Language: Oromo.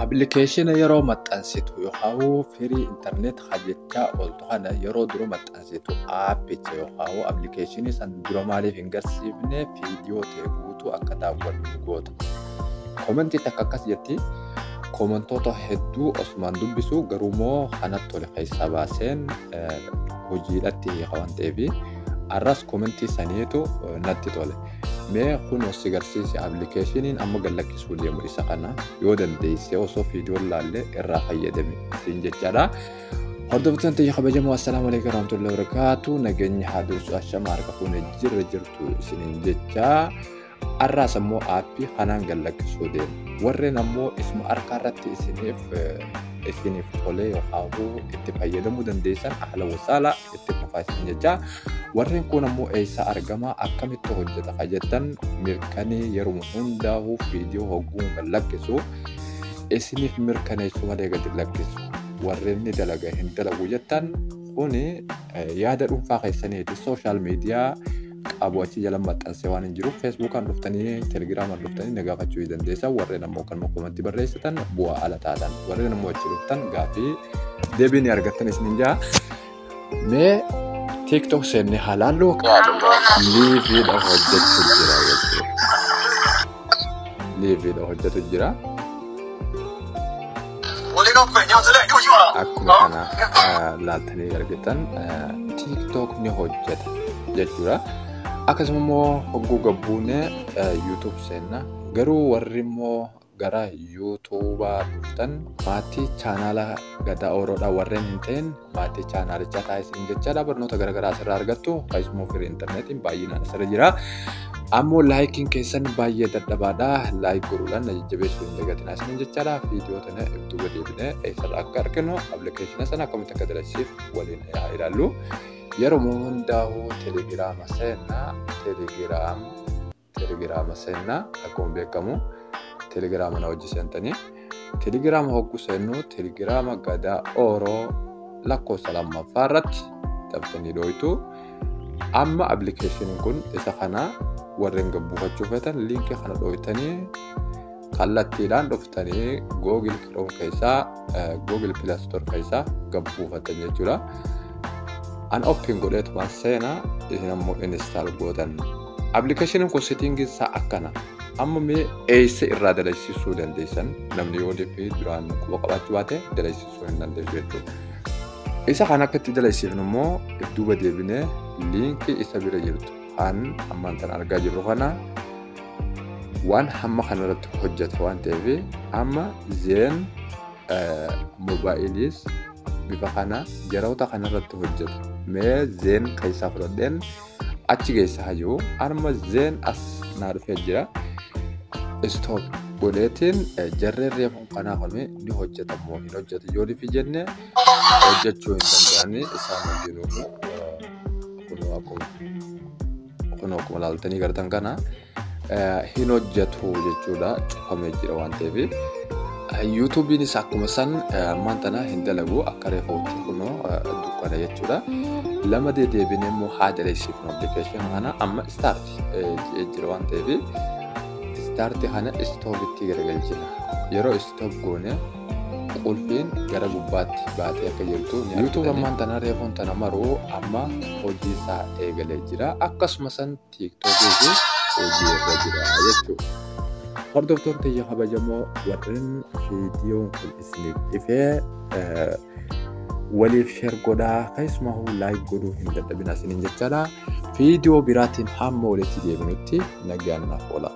Appilikeeshina yeroo maxxansitu yookaan firii intarneet hajjechaa ooltu kana yeroo dura maxxansitu aappicha yookaan appilikeeshinii san dura maaliif hin garsiifne viidiyoo ta'e guutuu akka daawwannu goota. Komentii takka akkas jetti komentoota hedduu osumaan dubbisu garuu immoo kanatti tole keessaa baaseen hojiidhatti hiika waan ta'eef arras komentii saniitu natti tole. Mee kun ossi garsiisi applicationin amma gallakkisuu deemu isa kana yoo dandeesse osoo fiidiyoon laalle irraa fayyadame siin jechaadha. Hordoftoota ta'e kabajamoo assalaamu alaikum warahmatullahi wabarakatuh nageenyi haa dursu ashama harka fuune jirra jirtu isiniin jecha har'aas ammoo aappii kanaan gallakkisuu deemu. Warreen ammoo isuma harkaa irratti isiniif isiniif tolee yookaan itti fayyadamuu dandeessan haala wasaala itti fufaa isin jecha warreen kun ammoo eessaa argama akkamitti hojjeta ka jettan mirkanee yeruma hundaa'uu viidiyoo hogguu kan lakkisu isiniif mirkaneessuu malee gadi lakkisu warreen ni dalaga hin dalagu jettan kuni yaada dhuunfaa keessaniiti sooshaal miidiyaa qabu achi jala maxxansee waan hin jiruuf feesbuukaan dhuftanii telegiraamaan dhuftanii na gaafachuu ni dandeessa warreen ammoo kanuma komatti barreessitan bu'aa ala taatan warreen ammoo achi dhuftan gaaffii deebii ni argattan isinin jaa mee tiktok seennee haalaallu liiviidha hojjetu jira jechuudha liiviidha hojjetu jira. Akkuma kana laaltanii argitan TikTok ni hojjeta jechuudha. Akkasuma immoo hogguu gabbuune YouTube seenna. Garuu warri immoo gara YouTubaa dhuftan maatii chaanaala gadaa ooroodhaa warreen hin ta'in maatii chaanaalichaa taasisan jechaadha barnoota garaagaraa asirraa argattu keessumoo firii intarneetiin baay'inaan asirra jira. Ammoo laayikiin keessan baay'ee dadhabaadha. Laayik godhuudhaan na jajjabeessuu hin dagatinaa isiniin jechaadha. Viidiyoo tana ibtuu gadi eebinee eessarraa akka arginu appilikeeshina sana akkamitti akka dalagsiif waliin haa ilaallu. Yeroo hundaa'uu telegiraama seenna telegiraama. telegiraama seenna akkuma beekamu telegiraama na wajji seentanii telegiraama hogguu seennu telegiraama gadaa ooroo lakkoofsa lammaffaa irratti taphatanii dhooytu amma appilikeeshiniin kun isa kana warreen gabbuufachuu feetan liinkii kana dhooytanii kallattiidhaan dhuftanii google chrome keessaa google play store keessaa gad buufatan jechuudha an open godheetuma seena isin ammoo install gootan appilikeeshiniin kun sitiingii isaa akkana amma mee eessa irraa dalagsisuu dandeessan namni yoo deebii duraan quba qabaachuu baate dalagsisuu hin dandeessu jechuudha isa kan akka itti dalagsifnu immoo duuba deebinee liinkii isa bira jirtu Kan ammaan tan argaa jirru kana waan hamma kanarratti hojjeta waan ta'eef amma zeen moobaayiliis bifa kana yeroota kanarratti hojjeta. Mee zeen keessaa fudhadheen achi geessaa hayyuu amma zeen as naa dhufee jira. Istoop godheetiin jarreen reefu kanaa kun ni hojjeta moo hin hojjetu yoo nufi jenne hojjechuu hin danda'anii isaan hundinuu. kunoo akkuma kunoo akkuma ilaaltanii gartan kana eh, hin hojjetu jechuudha cufamee jira waan ta'eef yuutuubiinis akkuma san eh, ammaan tana hin dalagu akka reefautti kunoo eh, dukkana jechuudha lama dedeebinee immoo haa daleessiifnu appilikeeshinii kana amma istaarti jedhee jira waan ta'eef istaarti kana istoovitti garagalchina yeroo istoov goone qulfiin gara gubbaatti baatee akka jirtu ni argitanii. YouTube ammaan tana reefuun tana maruu amma hojii isaa eegalee jira. Akkasuma san TikTok fi hojii irra jira jechuudha. Hordoftoota tiyya kabajamoo warreen viidiyoon kun isiniif dhifee waliif sheer godhaa keessumaa laayik godhuu hin dadhabina isiniin jechaadha. Viidiyoo biraatiin hamma walitti deebinutti nagaan naaf oolaa.